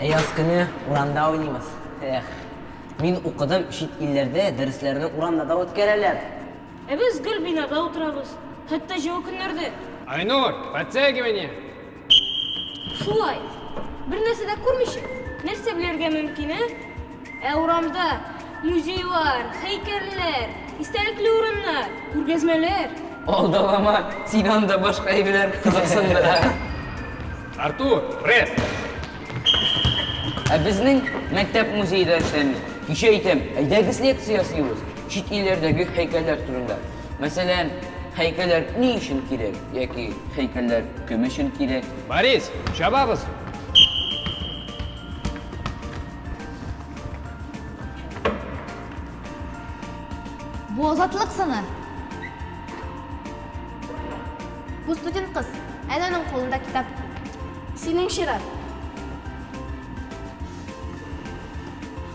Яз көне урамда уйнаймыз. Эх, мин укыдым, чит илләрдә дәресләрне урамда да үткәрәләр. Ә без гел бинада утырабыз. Хәтта җылы көннәрдә. Айнур, подтягивание! Шулай. Бер нәрсә дә күрмичә, нәрсә белергә мөмкин, ә? Ә урамда музейлар, һәйкәлләр, истәлекле урыннар, күргәзмәләр. Алдалама, сине анда башка әйберләр кызыксындыра. Артур, пресс! Ә безнең мәктәп музее дә эшләми. Кичә әйтәм, әйдәгез лекция ясыйбыз, чит илләрдәге һәйкәлләр турында. Мәсәлән, һәйкәлләр ни өчен кирәк яки һәйкәлләр кем өчен кирәк? Борис, чабабыз! Бу Азатлык сыны. Бу студент кыз. Әнә аның кулында китап. Синең чират.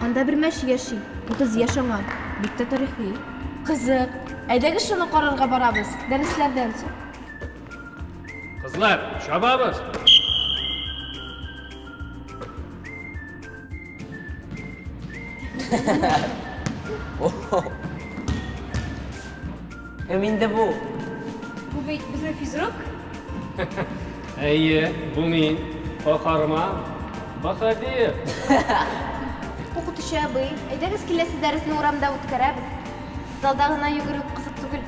Анда бер мәче яши. Утыз яшь аңа. Бик тә тарихи. Кызык. Әйдәгез шуны карарга барабыз. Дәресләрдән соң. Кызлар, чабабыз! Ха-ха-ха! Кем инде бу? Бу бит безнең физрук. Әйе, бу мин, каһарман баһадир. Укытучы абый, әйдәгез, киләсе дәресне урамда үткәрәбез. Залда гына йөгерү кызык түгел.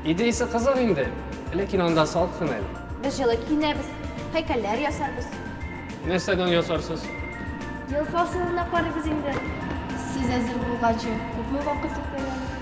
Идеясе кызык инде, ләкин анда салкын әле. Без җылы киенәбез, һәйкәлләр ясарбыз. Нәрсәдән ясарсыз? Ел фасылына карыйбыз инде. Сез әзер булганчы күпме вакыт үткән әле?